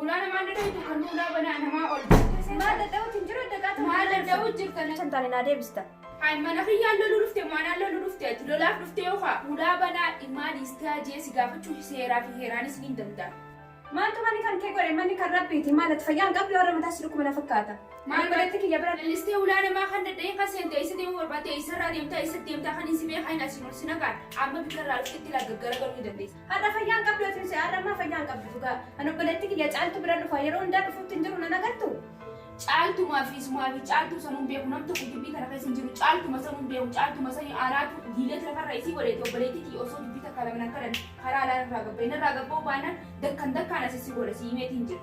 Ulaa namaa hin dada'u kan ulaa banaa namaa ol jirte. Maal dada'uutu hin jiru adda qaatu. Maal dada'uu jirta na. Kan taane naa deebista. Hay mana kiyyaan loluu dhufte maanaan loluu dhufte ati lolaaf dhufte yookaa ulaa banaa dhimmaa dhiistee hajee si gaafachuu seeraa fi heeraanis ni danda'a. Maaltu manni kan kee godhe manni kan rabbiiti maal ati fayyaa hin qabdu warra mataa si dhukkuba na fakkaata. Maal godhetti kiyya bira. Lallistee ulaa namaa kan dada'ee kan seente isa deemuu barbaadde isarraa deemtaa isa deemtaa kan hin si beekaa hin asiin ol si nagaan amma bikka irraa dhuftetti laggaggaragalu ni dandeessa. Har'a fayyaa hin qabdu Efiuse har'a ammaa fayyaa hin qabdu dhugaa. An obboleetti kiyya caaltu bira dhufa yeroo hundaa dhufuutti hin jiru nan agartu. Caaltu maafi sumaafi caaltuu sanuun beeku nam tokko gibbii kana keessa hin jiru caaltuma sanuun beeku caaltuma sani aanaatu diileet lafarra isii godheeti obboleetti kiyya osoo dubbii takka lama nan kadhan karaa alaan irraa gabba'i narraa gabba'u baanaan dakkan dakkaan as issi godha si himeeti hin jira.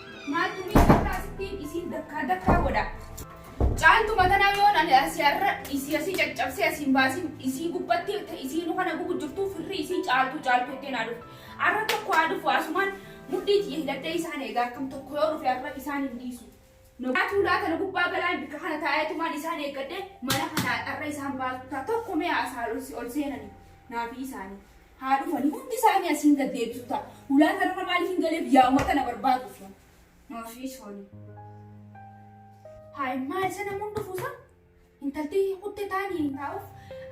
Maaltu ni jirtaa sittiin isiin dakkaa dakkaa godha. Caaltu matanaa yoon ani asii har'a isii asii caccabsee asiin baasin isii gubbatti ta isii nu kana gubu jirtuu firri isii caaltuu caaltuu ittiin haa dhufu. Har'a tokko haa dhufu asumaan mudhii tiyya hidhadhee isaan eegaa akkam tokko yoo dhufe har'a isaan hin dhiisu. Nogaatuu laata nu gubbaa galaan bikka kana taa'eetumaan isaan eeggadhee mana kana har'a isaan baasu ta'a tokko mee asaan ol seenani naafii isaanii. haa dhufani hundi isaanii asiin gad deebisu ta'a. Hulaa kanarra maaliif hin galeef yaa'uma kana barbaaduuf. Maafii sooni. Haa immaa isa namuun dhufuusa intalti kutte taanii hin taa'uuf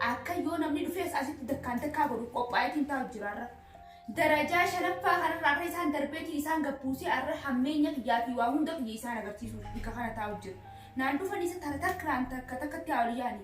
akka yoo namni dhufees asitti dakkaan takkaa godhu qophaa'eetiin taa'u jira irra. Darajaa shanaffaa kanarraa akka isaan darbeetiin isaan gabbuusee arra hammeenya kiyyaa fi waa hunda kiyya isaan agarsiisuuf bika kana taa'u jira. Naan dhufan isa takka takkaan takka takkatti haa ol yaani.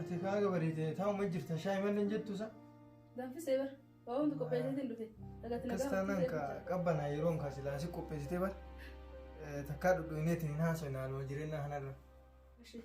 Ati kaaga bareedee taa'uma jirta shaayii malleen jettu sa? Danfisee bara. Waa hundi qopheesseetiin dhufe. Dhagatti Akkas taanaan ka qabbanaa yeroon kaa silaa si qopheessitee bara. Takkaa dhudhuuneetiin hin haasofne haaluma jireenya kanarra. Ishee.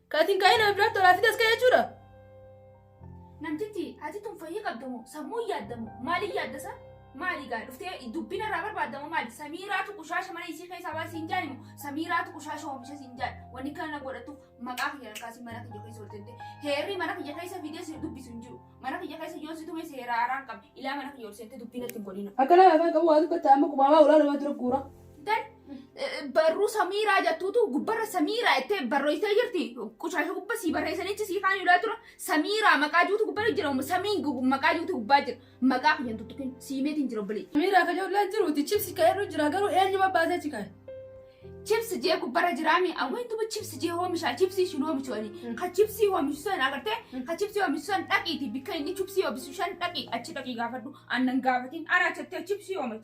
Kaatiin kaa'ee nama biraatti olaa fidas ka'e jechuudha. Namtichi ati tun fayyii qabdamu sammuu hin yaaddamu maaliin yaaddasa maali gaa dhuftee dubbina irraa barbaaddamu maali samiiraatu qushaasha mana isii keessaa baasii hin jaanimu samiiraatu qushaasha oomisha siin jaan wanni kana na godhatuuf maqaa kiyya harkaasii mana kiyya keessa oltente heerri mana kiyya keessa fidee si dubbisu hin jiru mana kiyya keessa yoo si tume seera haaraan qabdi ilaa mana kiyya olsente dubbina ittiin godhina. Akka nama afaan qabu waa dubbata amma qubaamaa ulaa namaa dura guura. Dan barruu samiiraa jettuutu gubbarra samiiraa jettee barreessee jirti. Qushaasha gubba sii barreessanichi sii kaan ilaa tura. Samiiraa maqaa juutu gubbarra jira. Samiin gu- maqaa juutu gubbaa jira. Maqaa kiyyan tuttukin siimeetiin jira obboleetti. Miiraa ka jollee jiruuti chipsi ka irra jira garuu eenyuma baasee si kaa'e. Chips jee gubbarra jiraami. Awweentuba chips jee hoomishaa. Chipsii isin hoomishu ani. Ka chipsii hoomishu san agartee? Ka chipsii hoomishu san dhaqiiti. Bikka inni chipsii hoomishu san dhaqi. Achi dhaqi gaafadhu. Annan gaafatiin. Ana achattee chipsii hoomishu.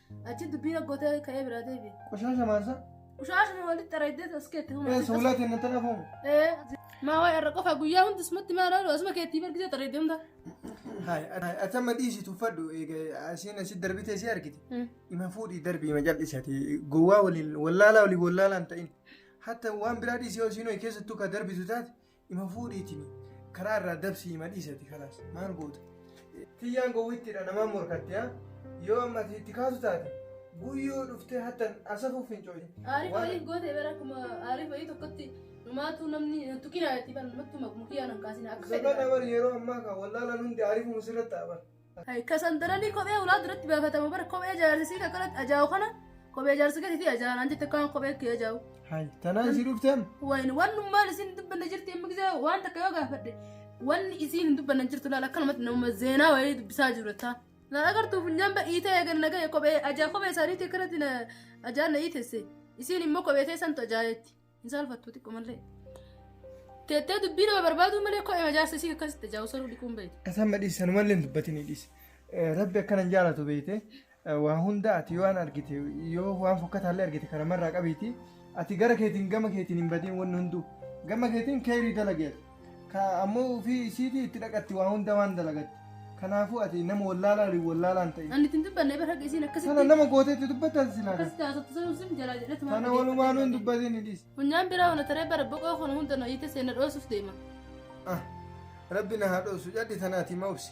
Achi dubbii dhaggootee ka'ee biraa deebi'e. Qoshaasha maasa. Qoshaashuma walitti xaraydee as keetti humna. Ee suulaa kenna tana fuuma. Ee maa waa'ee irra qofa guyyaa hundi isumatti maa laalu asuma keetti bargitee xaraydee hunda. Hayi ati amma dhiisi tuffadhu asiin asi darbitee si argite. Ima fuudhii darbii ima jal'isati gowwaa waliin wallaalaa waliin wallaalaa hin ta'in. Hatta waan biraa dhiisee osii nuyi keessattuu ka darbitu taate Ima fuudhiitiin karaa irraa dabsii ima dhiisati kalaas maal goota. Tiyyaan gowwittiidha namaan morkatti haa yoo amma itti kaasu taate guyyoo dhuftee hattan asafuuf fincooyi. Aariif waliin goote bara akkuma aariif wayii tokkotti numaatu namni tuqinaa itti bara namatti mukiyyaa nan kaasina akka fedhe. Sabana bar yeroo ammaa kan wallaalaan hundi aariifuma sirratti ta'a bar. Kasan daranii kophee ulaa duratti baafatamu bara kophee jaarsisii kakkalatti ajaa'u kana kophee jaarsi gatiitii ajaa'an an jette kaan kophee kee ajaa'u. Hayi tanaa isii dhufteen. Wayin wannummaan isin dubbanna jirti amma gisee waan takka yoo gaafadhe wanni isiin hin dubbanna jirtu laala akkanumatti nama zeenaa wayii dubbisaa jiru taa. Laal agartuu funyaan badhiitee eegan nagaya kophee ajaa kophee isaaniitii akkanatti na ajaan na iitesse isiin immoo kophee teessantu ajaayetti. Hin saalfattu xiqqo malee. Teettee dubbii nama barbaaduu malee koo ema jaarsa isii akkasitti jaa'u saruu dhiquun beektu. Kasan madhiis sanumallee hin dubbatinii dhiis. Rabbi akkana hin jaalatu beekte waa hunda ati yoo waan argite yoo waan fokkataallee argite karamarraa qabiiti ati gara keetiin gama keetiin hin badin wanni hunduu gama keetiin keerii dalageeti. Ka ammoo ufii isiitii itti dhaqatti waa hunda waan dalagatti. Kanaafuu ati nama wallaalaa waliin wallaalaa hin ta'in. Ani ittiin dubbanne bara haqa isiin akkasitti. Sana nama gootee itti dubbattan silaa. Akkasitti haasoftu sun sun jalaa jedhatu maal Sana walumaan hin dubbatin hin dhiis. Funyaan biraa wana taree bara boqoo kana hunda na hiite seena dhoosuuf deema. Ah, Rabbi na haa dhoosu. Yaddi tana ati ma obsi.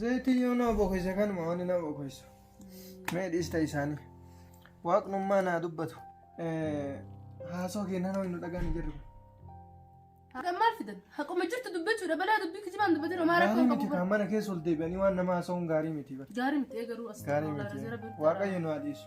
Zayitii yoo nama bokeessa kanuma wanni nama bokeessu. Mee dhiista isaanii. Waaqnummaa naa dubbatu. Haasoo keenan ho'i nu dhagaan hin jirru. Haqa maal fidan? Haquma jirtu dubbachuudha. Balaa dubbii kijibaan dubbatee homaa Gaarii rakkoo miti qabu. kan mana keessa ol deebi'anii waan nama haasa'uun gaarii miti. bar. Gaarii miti eegaruu as Gaarii miti. Waaqayyo nu haa dhiisu.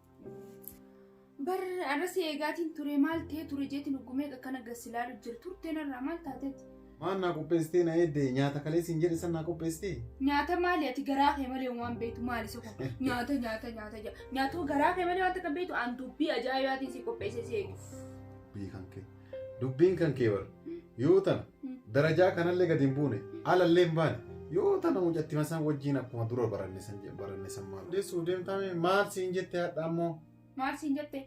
Bar arrasee eegaatiin ture maal ta'ee ture jeetiin huggumee akkana gassilaalu jiru turteen irraa maal taateeti? Maal naa qopheessitee na eeddee nyaata kalee siin jedhe san naa qopheessitee? Nyaata maali ati garaa kee malee waan beektu maali isa kun nyaata nyaata nyaata jedha nyaatuma garaa kee malee waan takka beektu aan dubbii ajaa'ibaatiin si qopheessee si eegu. Beekan kee. Dubbiin kan kee bar yoo tana darajaa kanallee gad hin buune alallee hin baane yoo tana mucattima san wajjiin akkuma dura baranne san je- baranne san maal deessuuf deemtaa mee maal siin jette hadha ammoo Maal siin jette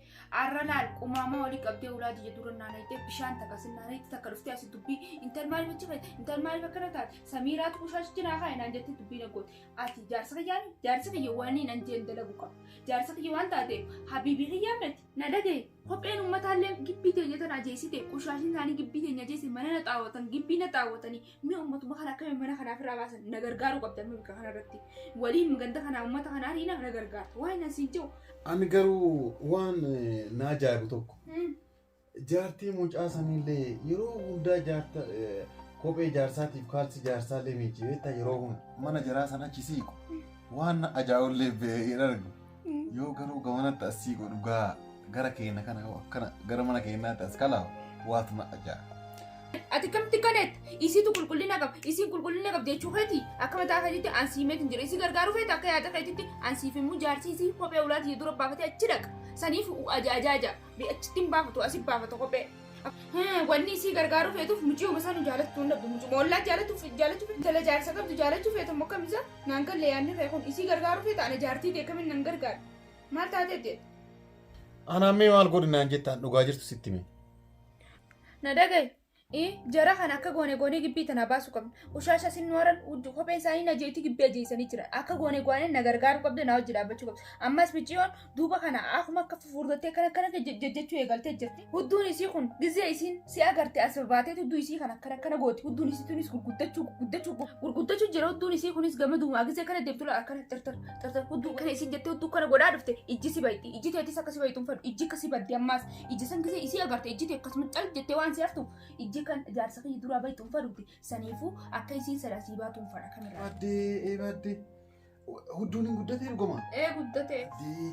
arra laal qumaamaa olii qabdee ulaa jiyya dura naanayitee bishaan takka sin naanayitee takka dhuftee asi dubbii intal maal bachi fayyada intal maal bakkana taate samiiraatu bushaash jinaa kaa inaan jettee dubbii na goote ati jaarsa kiyyaani jaarsa kiyya waan inaan jeen dalagu qabu jaarsa kiyya waan taateef habiibii kiyyaa miti Na dhagaye kopheen ummataallee gibbii teenya tana ajeessite qoshaashin isaanii gibbii teenya ajeesse mana na xaawwatan gibbii na xaawwatanii mi'a ummatuma kana akkamiin mana kanaaf irraa baasan na gargaaruu qabdan bakka kanarratti waliin ganda kanaa ummata kanaa dhiina na gargaarta waan nan siin jiru. Ani garuu waan eh, na ajaa'ibu tokko Hmm. jaartii mucaa sanillee yeroo hundaa jaarta eh, kophee jaarsaatiif kaalsi jaarsaallee miiccibeetta yeroo hunda mana jaraa san achi siiqu waan na ajaa'ullee ba'ee hin argu. Yoo garuu gamanatti as sii godhu gaa gara keenya kana yoo akkana gara mana keenyaatti as kalaawu waatu na ajaa. Ati kamti kanet isitu qulqullina qab isin qulqullina qab jechuu keeti akka mataa keetitti an sii meetin jira isi gargaaruu feete akka yaada keetitti an siif immoo jaarsii isii kophee ulaati dura baafatee achi dhaqa saniif ajaajaaja achitti hin baafatu asi baafata kophee. Wanni isii gargaaruu feetuuf muciyuma isaa nu jaalachuu hin dhabdu. Mucuma ollaa jaalatuuf jaalachuu feetu jala jaarsa qabdu jaalachuu feetu immoo akkam isaa naan galle yaadni kee kun isii gargaaruu feeta ana jaartii ta'e kamiin nan gargaara. Maal taatee jedhe. Anaan mee maal godhi naan jettaan dhugaa jirtu sitti mee. Na dhagaye. Ee jara kana akka goone goonee gibbii tana baasuu qabna. Ushaasha sin nooran uddu kophee isaanii na jeetii gibbii ajeessanii jira. Akka goone goone na gargaaruu qabda na wajji dhaabbachuu qabda. Ammas micciyoon duuba kana akkuma akka fufurdattee kana kana jechuu eegaltee jirti. Hudduun isii kun gizee isiin si agarte as baatee hudduu isii kana kana kana gooti hudduun isii tunis gurguddachuu gurguddachuu gurguddachuu jira hudduun isii kunis gama duumaa gizee kana deemtu laala kana tartar tartar hudduu kana isiin jettee hudduu kana godhaa dhufte ijji si bayti ijji teetis akka si baytu hin fedhu ijji akka si badde ammaas ijji san gizee isii agarte ijji tee akkasuma cal jettee waan si haftu ijji kan jaarsa kiyya duraa baytu hin fedhuuti saniifuu akka isiin sadaa sii baatu hin fedha kamirraa. Badde badde Hudduun hin guddatee dhugumaa? Ee guddatee. Dee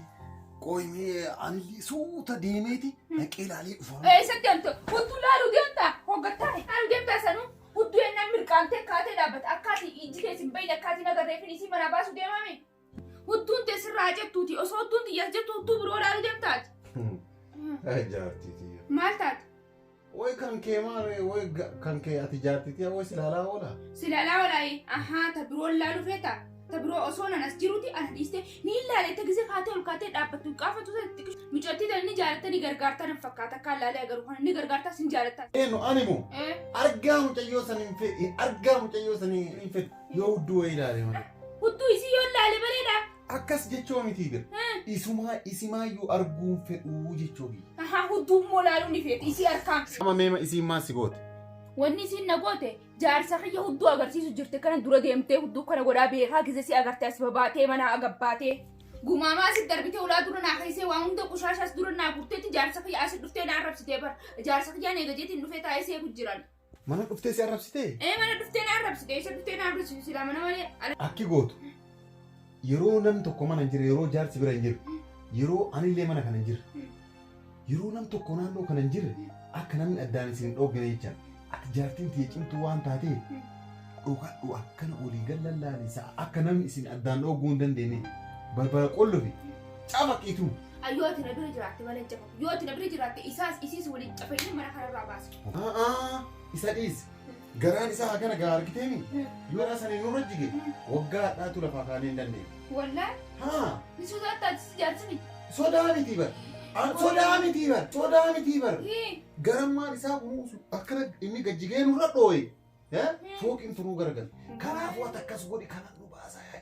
qoyimee anillee suuta deemeeti naqee ilaalee dhufa. Ee isa deemte hudduu laaluu deemta hoggattaa laaluu deemta sanuu hudduu ennaan mirqaantee kaatee dhaabbata akkaati ijji kees hin bayin akkaati nagarree fi isii manaa baasuu deemame. Hudduun tee sirraa jettuuti osoo hudduun tiyyaas jettu hudduu biroo laaluu deemtaati. Jaartii tiyya. Maal taate? Woy kan kee maaree woy ga- kan kee ati jaartitiya woy silaalaa oola. Si laalaa olaayee. Ahaa ta biroo laalu feeta. Ta biroo osoo nan as jiruti ana dhiiste ni ilaale ta gise kaatee ol kaatee dhaabbattu qaafatu ta xiqqishu. Mucattii tan ni jaalatta ni gargaarta nan fakkaata akka laalee agaruu kana ni gargaarta sin jaalatta. Eenu ani moo Eh, argaa mucayyoo san hin fedhe argaa mucayyoo san hin fedhe yoo hudduu wayii ilaale malee. Hudduu isii yoo laale bareeda. Akkas jechoo mitii bir. Isumaa isimaayyuu arguun fedhuu jechoo biyya. Ahaa hudduu immoo laaluu ni feeti isii harkaa. Sama meema isiin maal si goote? Wanni isiin na goote jaarsa kiyya hudduu agarsiisu jirte kana dura deemtee hudduu kana godhaa beekaa gise si agarte as babaatee manaa agabbaatee. Gumaamaa asi darbitee ulaa dura naa keessee waan hunda qoshaashaas dura naa gurteetti jaarsa kiyya asi dhuftee naa arrabsitee bara. Jaarsa kiyyaan eega jeetiin dhufee taa'ee seeku jiran. Mana dhuftee si arrabsitee? Ee mana dhuftee na arrabsite isa dhuftee na arrabsitu silaa mana malee ala. Akki gootu yeroo nam tokko mana hin jirre yeroo jaarsi bira hin jirre yeroo anillee mana kana hin jirre yeroo nam tokko naannoo kana hin jirre akka namni addaan isin hin dhooggine jechaan ati jaartiin tiyya cimtuu waan taatee dhokadhu akkana olii gallallaani sa'a akka namni isin addaan dhoogguu hin dandeenye barbara qollofi cafaqiituu. Ayyoo ati na bira jiraatte mana hin cafa. Yoo ati na bira jiraatte isaas isiis waliin cafayinee mana kanarraa baasna. A'aa isa dhiis. Garaan isaa hagana gaa argiteemi. Yoo irraa sana nurra jige waggaa hadhaatu lafaa kaanee hin dandeenye. Wallaan Haa ni sodaattaa ati si jaarsa miti. sodaa mitii bar. An sodaa mitii bar. Sodaa mitii bar. Hii. Garammaan isaa kunuunsu akkana inni gajjigee nurra dhooye. Eh? Fooqiin tunuu garagalte. Kanaafuu ati akkas godhi kana nu baasaa.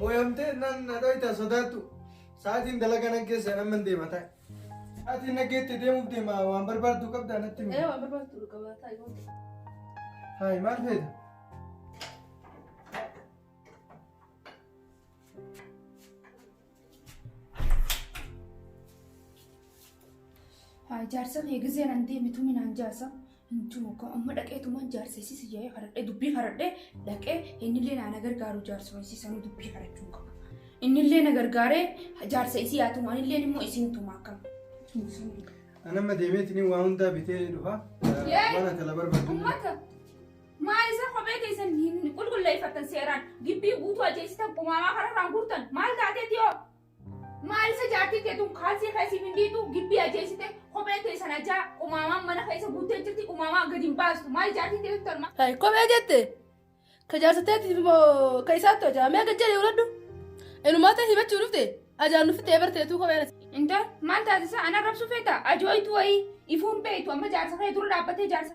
Mooyamtee nan na dhoyta sodaadhu. Sa'aatiin dalagaa naggeessan amma hin deema taa'e. Sa'aatiin naggeetti deemuuf deema waan barbaaddu qabdaa natti himi. Ee waan barbaaddu dhuga baataa yoo ta'e. Haay maal feeta? Haa jaarsa kee gizee nan deemi tumi naan jaarsa. Hin tumu koo amma dhaqee tumaan jaarsa isii si jaa'ee haradhee dubbii haradhee dhaqee innillee naa na gargaaru jaarsuma isii sanuu dubbii harachuu hin qabu. Innillee na gargaaree jaarsa isii haa tumu anilleen immoo isiin tuma akkam. Hin tumu. Anamma deemeetini waa hundaa bitee dhufa. Yee! Waan ati ala barbaaddu. Ummata Maal isa kophee keessan hin qulqulleeffattan seeraan? Gibbii guutuu ajeessitan qumaamaa kanarraan guurtan maal taateeti hoo? Maal isa jaartii teetuun kaalsii keessiif hin dhiitu gibbii ajeessite kophee teessan ajaa qumaamaan mana keessa guuttee jirti qumaamaa gadi hin baastu maal jaartii teetu tarma? Hay kophee jette ka jaarsa teetiif moo ka isaattu ajaa mee gad jedhee uladhu inumaa ta'e himachuu dhufte ajaan nufi ta'ee barteetuu kopheen ati. Intal maal taasisa ana rabsu feeta ajooytu wayii ifuun beektu amma jaarsa kee dura dhaabbatee jaarsa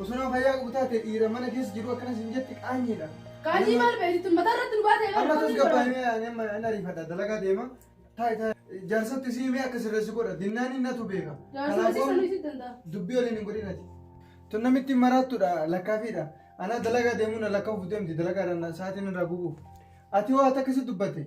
Osoo nama fayyaa qabu taate dhiira mana keessa jiru akkana sin jetti qaanyiidha. Qaanyii maal beektu mataa irratti nu baatee Amma tus gabbaa himee ani amma hin ariifadha dalagaa deema. Taa'e taa'e jaarsatti si himee akka sirreessi godha dinnaan inni natu beeka. Jaarsumatti sanuu itti danda'a. dubbii waliin hin godhinati. Tun namitti maraattudha lakkaafiidha. Anaa dalagaa deemuu na lakkaa'uuf deemti dalagaa irraa sa'aatiin irraa gubuuf. Ati hoo ati akkasii dubbate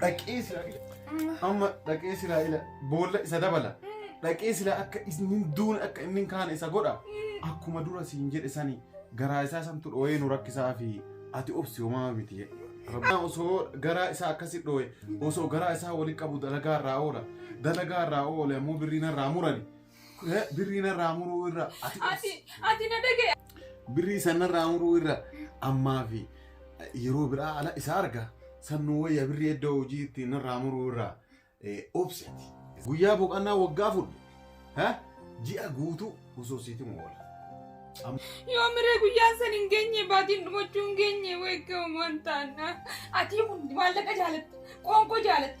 Dhaqee silaa amma dhaqee silaa ila boolla isa dabala. Dhaqee silaa akka inni duun akka inni kaane isa godha. Akkuma dura siin jedhe sani garaa isaa santu dhooyee nu rakkisaa fi ati obsi homaa miti jedhe. Rabbaan osoo garaa isaa akkasi dhooye osoo garaa isaa wali qabu dalagaa irraa oola. Dalagaa irraa oole ammoo birrii narraa murani. Eh, Birrii narraa muruu irra ati Ati ati na dhagaye. birrii san narraa muruu irra ammaa fi yeroo biraa ala isa arga sannuu wayya birrii iddoo hojii itti narraa muruu irra eh, obseti. Guyyaa boqannaa waggaa fudhu. Ha? Ji'a guutuu osoo siiti moola. Yoo miree guyyaan san hin geenye baatiin dhumachuu hin geenye wayga uumaan taana. Ati hundi maallaqa jaalatta. Qoonqoo jaalatta.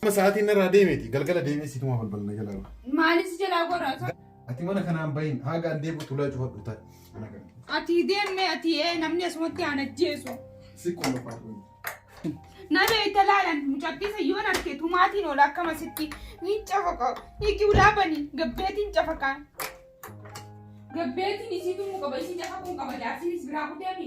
Qaama sa'aatiin narraa deemeeti galgala deemee situmaa balbala na jalaa ba'a. Maalis jalaa gorata. Ati mana kanaan bahin haga an deebi'u tulaa cufadhu ta'i. Mana kana. Ati deemme ati ee namni asumatti aan ajjeesu. Si qofa faatu. Na beekta laalan mucattii sayyoon arke tumaatiin oola akkamasitti ni cafaqa hiiki ulaa bani gabbeetiin cafaqa. Gabbeetiin isii tumuu qaba isii cafaquu qaba jaarsiinis biraa kuteemi.